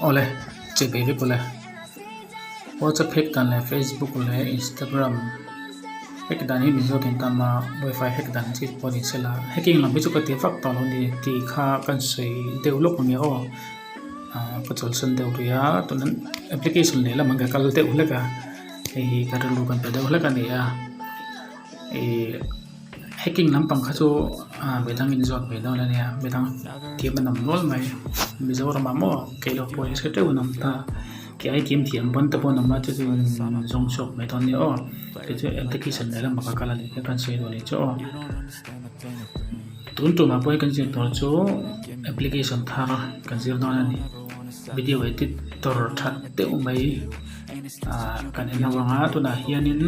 ole che be be pule whatsapp hack dan le facebook le instagram hack dan hi mizo tin tam ma wifi hack dan chi pawh ni sela hacking lam hi chu ka ti fak tawh lo ni ti kha kan sawi deuh lawk nia aw ka chawlhsan deuh ri a tun an application lehlam an ka kal deuh hlek a hei hi ka rilru kan pe deuh hlek a ni a ihh hacking lampang kha chu ahh mi dang inzawt ve dawn a nia mi dang thiam a nawm nual mai mizoram ah maw keilawh pawh hre teuh a nawm ta kei ai thiam thiam ban te pawh an awm a chu chu in zawng chhuak mai dawn a nia aw kei chu engte khi chan leh lamah ka kal a nih hre kan sawi duh a nih chu aw tun tumah pawhin kan zir tur chu application thar a kan zir dawn a ni video edit tur that deuh mai. kan en ho ang a tunah hianin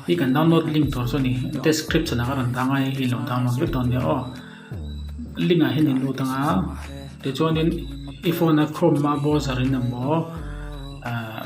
hei kan download link tur chu a ni description ah ka rawn tar a i lo download vek dawn nia aw link ah hian in lut ang a tichuanin i phone a chrome a browser in a maw ahh--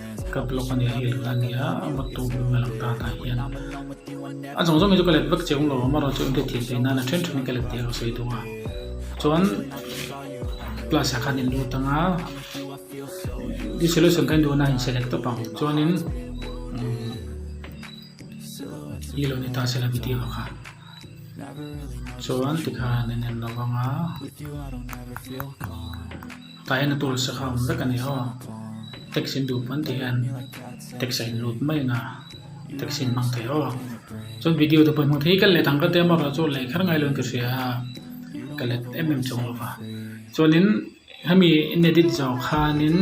Ka block a nih hil kha ania awmawt tu hming a lang ta ta hian a zawng zawngin chu ka let vek che awm lo amarawh chu engte thiam theih nan a then thenin ka let tirang sawi thung a chuan plus ah khan in lut anga i solution kha indun a inselect tawp ang chuanin kilomita sela video kha chuan tikhan in en lo vanga Tah hian a tûl sa khâwm vek a ni haw. Taxi in duh pawn tih hian taxi a inlût mai in a taxi in hmang thei haw a. Chuan video te pawh in hmang thei kal leh thang ka ti a amaherawh chu a laih kher ngai lo in ka hria a, ka let em em chawk lo va. Chuanin hemi in edit zawh khânin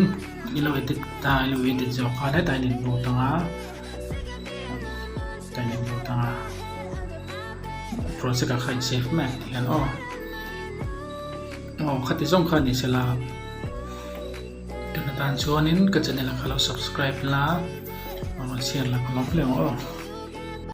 i lo edit ta i lo edit zawh khân hetah in inbût ang a, hetah in inbût ang a, project ah kha in save meh tih hian aw. Aw khati zawng kha ni sela tuna tan chuanin ka channel a ka lo subscribe la a chhiar la ka lawm hleng aw.